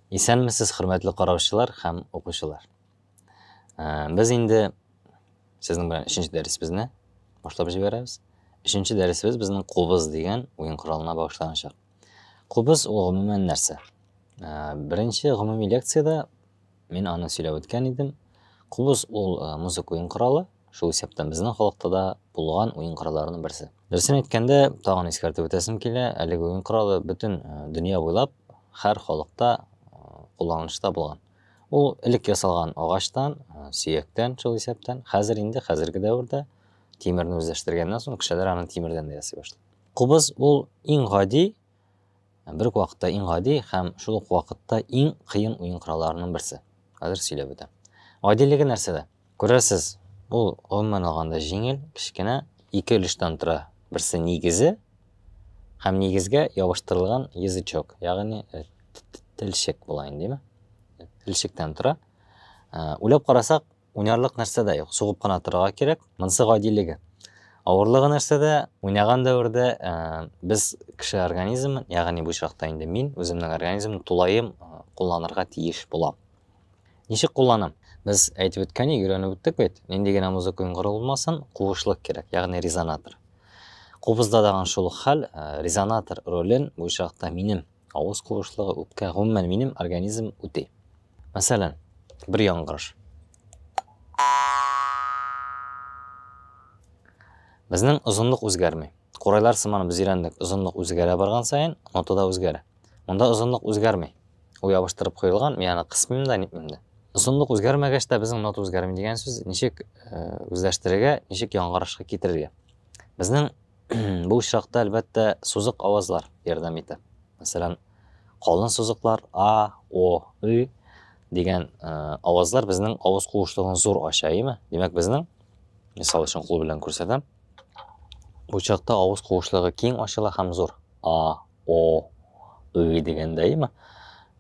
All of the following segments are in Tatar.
Исәнмесез, хөрмәтле караучылар һәм укучылар. Э, без инде сезнең белән өченче дәресебезне башлап җибәрәбез. Өченче дәресебез безнең кубыз дигән уен коралына багышланачак. Кубыз ул гомумән нәрсә? Э, беренче гомуми лекциядә Мин аны сөйләп үткән идем. Кубыз ул музыка уен коралы, шул исәптән безнең халыкта да булган уен коралларының берсе. Дөресен әйткәндә, тагын искәртеп үтәсем килә, әлеге уен коралы бөтен дөнья буйлап һәр халыкта кулланылышта булган. Ул элек ясалган агачтан, сөяктән, шул исәптән, хәзер инде хәзерге дәвердә тимерне үзләштергәннән соң кешеләр аны тимердән дә ясый башлады. Кубыз ул иң гади бер үк вакытта иң гади һәм шул ук вакытта иң кыен уен коралларының берсе. Хәзер сөйләп үтәм. Гадилеге нәрсәдә? Күрәсез, ул гомумән алганда җиңел, кечкенә, ике өлештән тора. Берсе нигезе һәм нигезгә ябыштырылган язычок, ягъни э, телчек була инде, димме? Телчектән тора. Э, уйлап карасак, Уйнарлык нәрсә дә юк, сугып кына торырга кирәк. Монысы гадилеге. Авырлыгы нәрсәдә? Уйнаган дәвердә ә, без кеше организмын, ягъни бу очракта инде мин үземнең организмны тулаем кулланырга тиеш булам. Ничек кулланам? Без әйтеп үткәне, өйрәнеп үттек бит. Нинди генә музыка уйнгыры булмасын, куышлык кирәк, ягъни резонатор. Кубызда даган шул хәл, резонатор ролен бу очракта минем Авыз куышлыгы, үпкә, гомумән, минем организм үти. Мәсәлән, бер яңгырыш. Безнең озынлык үзгәрми. Курайлар сыман без өйрәндек, озынлык үзгәрә барган саен, нота да үзгәрә. Монда озынлык үзгәрми. Ул ябыштырып куелган, мин аны кысмыйм да, нитмим дә. Озынлык үзгәрмәгәч тә безнең нота үзгәрми дигән сүз ничек э, үзләштерергә, ничек яңгырышка китерергә? Безнең Бу очракта, әлбәттә, сузык авазлар ярдәм итә. Мәсәлән, калын сузыклар а, о, ы дигән э, авазлар безнең авыз куышлыгын зур ача, әйеме? Димәк, безнең мисал өчен кул белән күрсәтәм. Бу чакта авыз куышлыгы киң ачыла һәм зур. А, о, ы дигәндә, әйеме?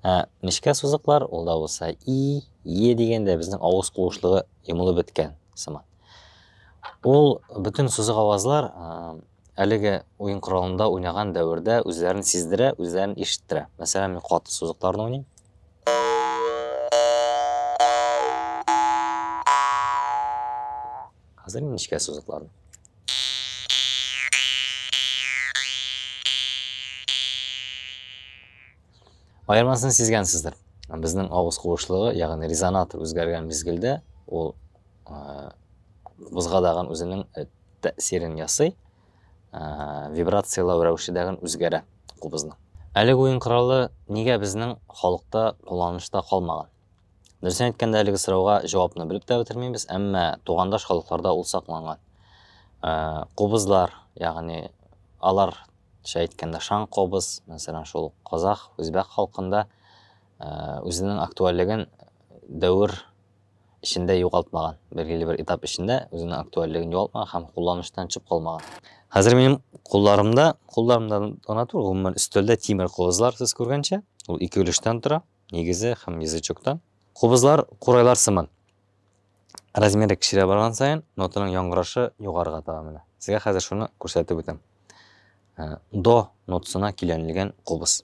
Ә нечкә сузыклар, ул да булса и, е дигәндә безнең авыз куышлыгы йомылып беткән сыман. Ул бөтен сызык авазлар әлеге уен коралында уйнаган дәвердә үзләрен сиздерә, үзләрен ишеттерә. Мәсәлән, мин каты сызыкларны уйныйм. Хәзер мин нечкә сызыкларны. Аермасын сизгәнсездер. Безнең авыз куышлыгы, ягъни резонатор үзгәргән мизгелдә, ул бузга дагын үзенең тәэсирен ясый, вибрацияләү рәвеше дагын үзгәрә кубызның. Әлеге уен коралы нигә безнең халыкта кулланышта калмаган? Дөресен әйткәндә, әлеге сорауга җавапны белеп тә бетермибез, әмма тугандаш халыкларда ул сакланган. Кубызлар, ягъни алар Шә әйткәндә шаң кобыз, мәсәлән, шул казах, үзбәк халкында үзенең актуальлеген дәвер эчендә югалтмаган, билгеле бер этап эчендә үзенең актуальлеген югалтмаган һәм кулланыштан чып калмаган. Хәзер минем кулларымда, кулларымда гына түгел, гомумән өстәлдә тимер кубызлар сез күргәнчә, ул ике өлештән тора, нигезе һәм язычоктан. Кубызлар курайлар сыман. Размеры кечерә барган саен, нотаның яңгырашы югарыга таба менә. Сезгә хәзер шуны күрсәтеп үтәм. Э, до нотасына киләнелгән кубыз.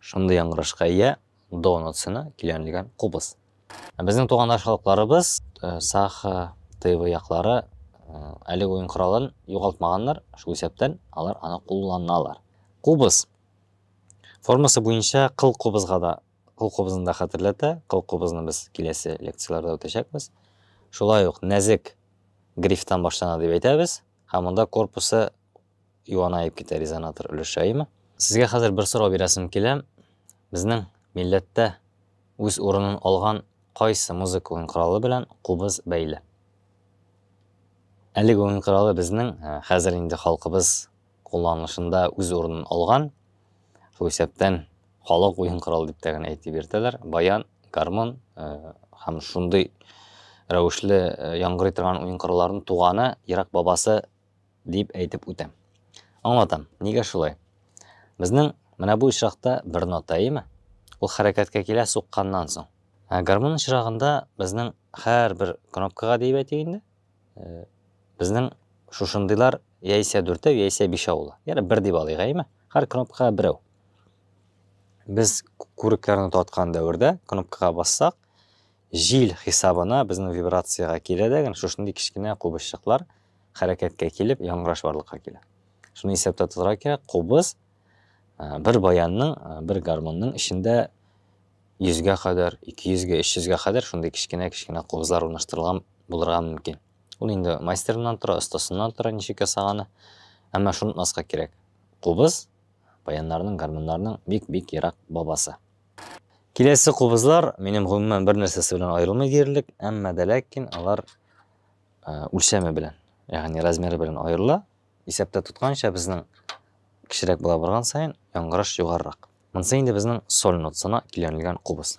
Шундый яңгырышка ия до нотасына килгәнлеген кубыз. Ә безнең туганнар халыкларыбыз э, Саха, Тыва яклары э, әлеге уен коралын югалтмаганнар, шул исәптән алар аны кулланалар. Кубыз формасы буенча кыл кубызга да кыл кубызын да хәтерләтә. Кыл кубызны без киләсе лекцияләрдә үтәчәкбез. Шулай ук нәзек грифтан башлана дип әйтәбез, һәм монда корпусы юанаеп китә резонатор өлешәеме. Сезгә хәзер бер сорау бирәсем килә, безнең милләттә үз урынын алган кайсы музыка уен коралы белән кубыз бәйле? Әлеге уен коралы безнең хәзер инде халкыбыз кулланылышында үз урынын алган, шул исәптән халык уен коралы дип тә генә әйтеп йөртәләр, баян, гармун һәм шундый рәвешле яңгырый торган уен коралларының туганы, ерак бабасы, Дип әйтеп үтәм. Аңлатам, нигә шулай. Безнең менә бу очракта бер нота, әйеме? Ул хәрәкәткә килә сукканнан соң. Ә гармун очрагында безнең һәрбер кнопкага диеп әйтик инде, э, безнең шушындыйлар яисә дүртәү, яисә бишәү була. Яна бер дип алыйк, әйеме? Һәр кнопкага берәү. Без күрекләрне таткан дәвердә кнопкага бассак, Җил хисабына безнең вибрациягә килә дә гел шушындый кечкенә кубызчыклар хәрәкәткә килеп, яңгыраш барлыкка килә. Шуны исәптә тотарга кирәк, кубыз бер баянның, бер гармунның эчендә 100-гә кадәр, 200-гә, 300-гә кадәр шундый кечкенә-кечкенә кубызлар урнаштырылган булырга мөмкин. Ул инде мастерыннан тора, остасыннан тора, ничек ясаганы. Әмма шуны онытмаска кирәк. Кубыз баяннарның, гармуннарның бик-бик ерак бабасы. Киләсе кубызлар минем гомумән бер нәрсәсе белән аерылмый диярлек, әмма дә ләкин алар үлчәме белән, ягъни размеры белән аерыла. Исәптә тотканча безнең кечерәк була барган саен яңгыраш югарырак. Монысы инде безнең соль нотасына килгәнлгән кубыз.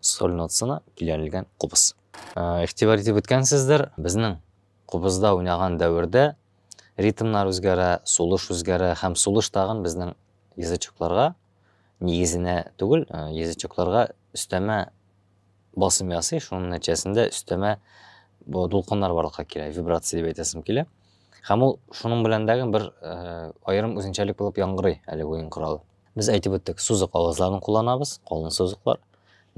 Сольно цена биләнелгән кубыз. Игътибар итеп үткәнсездер, безнең кубызда уйнаган дәвердә ритмнар үзгәрә, сулыш үзгәрә һәм сулыш тагын безнең язычокларга, нигезенә түгел, язычокларга өстәмә басым ясый, шуның нәтиҗәсендә өстәмә бу дулкыннар барлыкка килә, вибрация дип әйтәсем килә. Һәм ул шуның белән дәген бер аерым үзенчәлек булып яңгырый әле уен коралы. Без әйтеп үттек, сузык авазларын кулланабыз, калын сузыклар,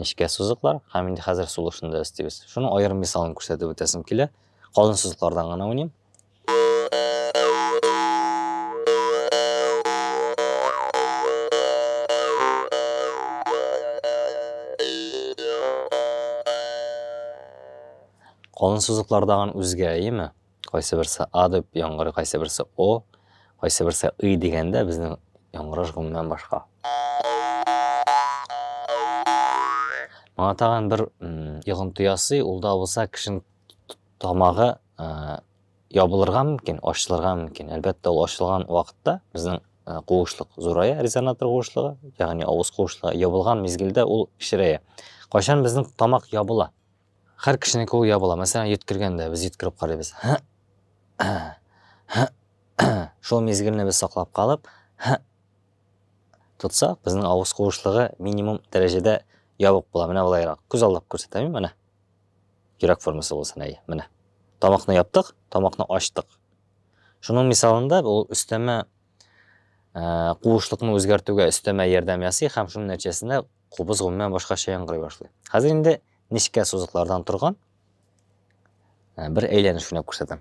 нечкә сузыклар һәм инде хәзер сулышында өстибез. Шуның аерым мисалын күрсәтеп үтәсем килә. Калын сузыклардан гына уйныйм. Калын сузыклардан үзгә, әйеме? Кайсыберсе А дип яңгырый, кайсыберсе О, кайсыберсе И дигәндә безнең яңгыраш гомумән башка. Моңа тагын бер йогынты ясый, ул да булса кешенең тамагы ябылырга мөмкин, ачылырга мөмкин. Әлбәттә, ул ачылган вакытта безнең куышлык зурая, резонатор куышлыгы, ягъни авыз куышлыгы ябылган мизгелдә ул кечерәя. Кайчан безнең тамак ябыла? Хәр кешенең кулы я була. Мәсәлән, йөткергәндә без йөткереп карыйбыз. Шул мизгелне без саклап калып, тотсак, безнең авыз куышлыгы минимум дәрәҗәдә ябык була. Менә болайрак. Күз алдап күрсәтәм, менә. Йөрәк формасы булсын, әйе, менә. Тамакны яптык, тамакны ачтык. Шуның мисалында ул өстәмә куышлыкны үзгәртүгә өстәмә ярдәм ясый һәм шуның нәтиҗәсендә Кубыз гомумән башкача яңгырый башлый. Хәзер инде нечкә сузыклардан торган э, бер әйләнеш уйнап күрсәтәм.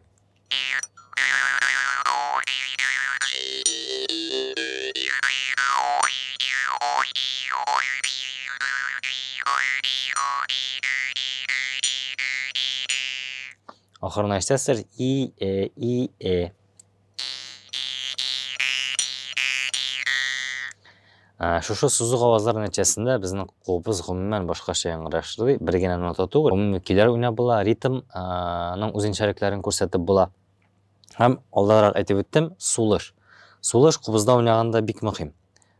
Ахырына ишетәсез, и, э, и, э. Ә, шушы сузык авазлар нәтиҗәсендә безнең кулыбыз гомумән башкача яңгырашлый, бер генә нота түгел, гомуми көйләр уйнап була, ритмның үзенчәлекләрен күрсәтеп була. Һәм алдарак әйтеп үттем, сулыш. Сулыш кубызда уйнаганда бик мөһим.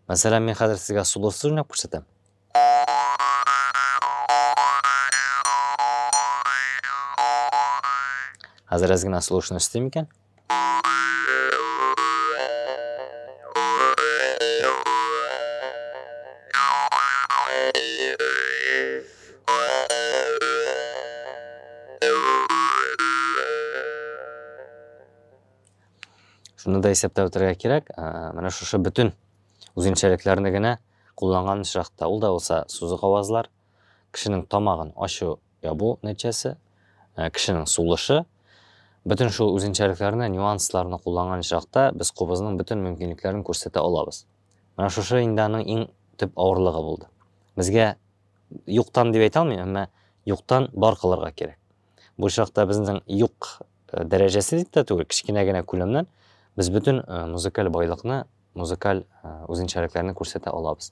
Мәсәлән, мин хәзер сезгә сулышсыз уйнап күрсәтәм. Хәзер әз генә слушно өстим икән. Шуны да исәптә үтәргә кирәк. Менә шушы бөтен үзенчәлекләрне генә Кулланган очракта, ул да булса сузык авазлар, кешенең тамагын ачу, ябу нәтиҗәсе, кешенең сулышы. Бөтен шул үзенчәлекләрне, нюансларны кулланган очракта без кубызның бөтен мөмкинлекләрен күрсәтә алабыз. Менә шушы инде аның иң төп авырлыгы булды. Безгә юктан дип әйтә алмыйм, әмма юктан бар кылырга кирәк. Бу очракта безнең юк Э, дәрәҗәсе дип тә түгел, кечкенә генә күләмнән без бөтен э, музыкаль байлыкны, музыкаль э, үзенчәлекләрне күрсәтә алабыз.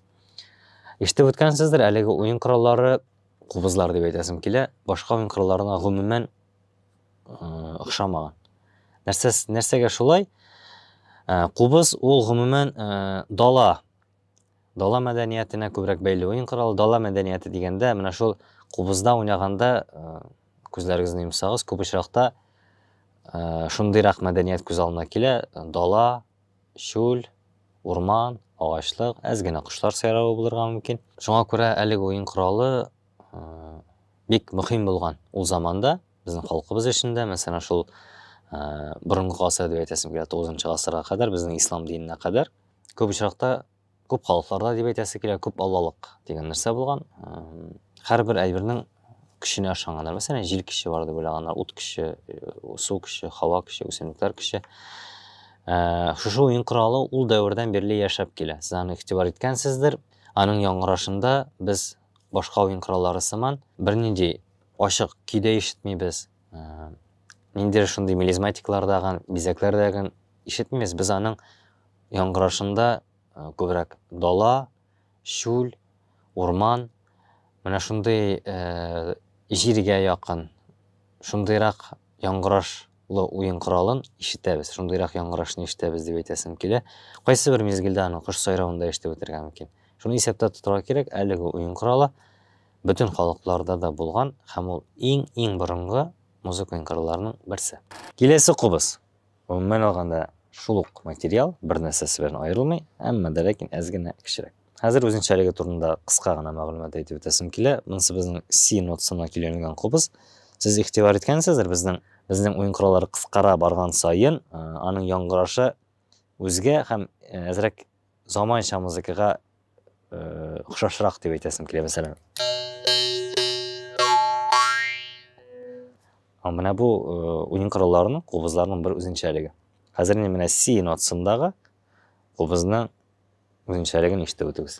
Ишетеп үткәнсездер, әлеге уен кораллары кубызлар дип әйтәсем килә, башка уен коралларына гомумән охшамаган. Нәрсә нәрсәгә шулай? Кубыз ул гомумән дала Дала мәдәниятенә күбрәк бәйле уен коралы. Дала мәдәнияте дигәндә, менә шул кубызда уйнаганда, күзләрегезне йомсагыз, күп очракта шундыйрак мәдәният күз алдына килә, дала, чүл, урман, агачлык, әз генә кошлар сайравы булырга мөмкин. Шуңа күрә әлеге уен коралы бик мөһим булган ул заманда, безнең халкыбыз өчен дә, мәсәлән, шул борынгы гасыр дип әйтәсем килә, 9 гасырга кадәр, безнең ислам диненә кадәр. Күп очракта, күп халыкларда дип әйтәсе килә, күп аллалык дигән нәрсә булган. Һәрбер әйбернең көченә ышанганнар. Мәсәлән, җил көче бар дип уйлаганнар, ут көче, су көче, һава көче, үсемлекләр көче. Шушы уен коралы ул дәвердән бирле яшәп килә. Сез аны игътибар иткәнсездер. Аның яңгырашында без башка уен кораллары сыман бернинди ачык көйдә ишетмибез. Ә, ниндидер шундый мелизматиклардагын, бизәкләрдәген ишетмибез. Без аның яңгырашында э, күбрәк дала, шүл, урман, менә шундый э, җиргә якын, шундыйрак яңгырашлы уен коралын ишетәбез, шундыйрак яңгырашны ишетәбез дип әйтәсем килә. Кайсы бер мизгелдә аны кош сайравында ишетеп үтергә мөмкин. Шуны исәптә тотырга кирәк, әлеге уен коралы Бөтен халыкларда да булган һәм ул иң-иң борынгы музыкаль кырларның берсе. Киләсе кубыз. Гомумән алганда, шул ук материал, бернәрсәсе белән аерылмый, әмма дә ләкин әз генә кечерәк. Хәзер үзенчәлеге турында кыска гына мәгълүмат әйтеп үтәсем килә. Монысы безнең си нотасына көйләнелгән кубыз. Сез игътибар иткәнсездер, безнең безнең уен кораллары кыскара барган саен, аның яңгырашы үзгә һәм әзрәк заманча музыкага охшашрак дип әйтәсем килә, мәсәлән. Менә бу уен коралларының, кубызларның бер үзенчәлеге. Хәзер инде менә си нотасындагы кубызның үзенчәлеген ишетеп үтегез.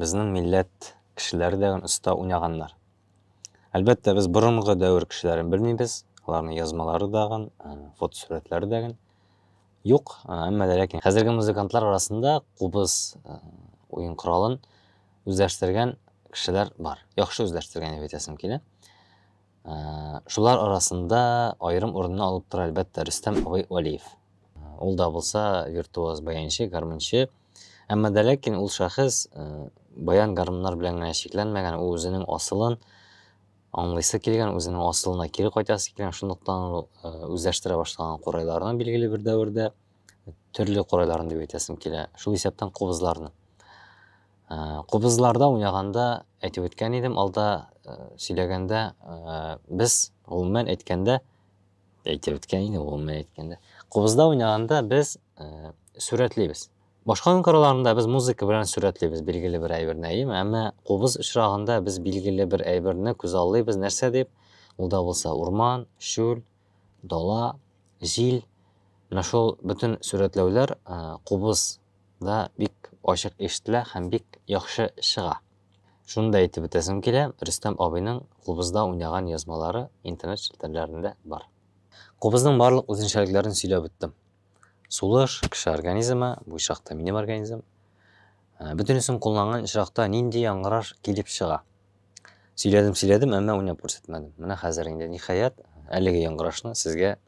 Безнең милләт кешеләре дә оста уйнаганнар. Әлбәттә, без борынгы дәвер кешеләрен белмибез, аларның язмалары да, фотосурәтләре дә юк, әмма дә ләкин хәзерге музыкантлар арасында кубыз уен коралын үзләштергән кешеләр бар. Яхшы үзләштергән дип әйтәсем килә. Шулар арасында аерым урынны алып тора әлбәттә Рөстәм абый Валиев. Ул да булса виртуоз баянчы, гармунчы. Әмма дә ләкин ул шәхес э, баян гармуннар белән генә чикләнмәгән, ул үзенең асылын аңлыйсы килгән, үзенең асылына кире кайтасы килгән, шунлыктан ул э, үзләштерә башлаган курайларны билгеле бер дәвердә төрле курайларын дип әйтәсем килә. Шул исәптән кубызларны. Э, кубызларда уйнаганда әйтеп үткән идем, алда сөйләгәндә без гомумән әйткәндә әйтеп беткән инде гомумән әйткәндә кубызда уйнаганда без э, сурәтлибез башка уен коралларында без музыка белән сурәтлибез билгеле бер әйберне әйеме әмма кубыз очрагында без билгеле бер әйберне күз аллыйбыз нәрсә дип ул да булса урман чүл дала җил менә шул бөтен сурәтләүләр э, кубызда бик ачык ишетелә һәм бик яхшы чыга Шуны да әйтеп үтәсем килә, Рөстәм абыйның кубызда уйнаган язмалары интернет челтәрләрендә бар. Кубызның барлык үзенчәлекләрен сөйләп үттем. Сулыш, кеше организмы, бу чакта минем организм. Ә, Бөтенесен кулланган очракта нинди яңгыраш килеп чыга? Сөйләдем, сөйләдем, әмма уйнап күрсәтмәдем. Менә хәзер инде, ниһаять, әлеге яңгырашны сезгә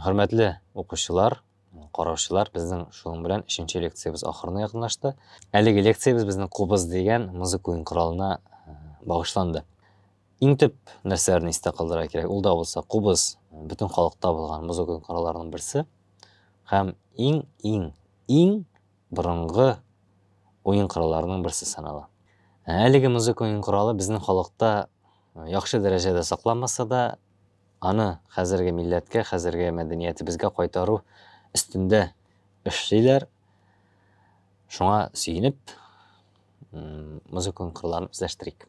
Хөрмәтле укучылар, караучылар, безнең шуның белән өченче лекциябез ахырына якынлашты. Әлеге лекциябез безнең кубыз дигән музыка уен коралына э, багышланды. Иң төп нәрсәләрне истә калдырырга кирәк. Ул да булса кубыз э, бөтен халыкта булган музыка уен коралларының берсе һәм иң иң иң борынгы уен коралларының берсе санала. Әлеге музыка уен коралы безнең халыкта яхшы дәрәҗәдә сакланмаса да, аны хәзерге милләткә, хәзерге мәдәниятебезгә кайтару өстендә эшлиләр. Шуңа сөенеп, музыканың кырларын үзләштерик.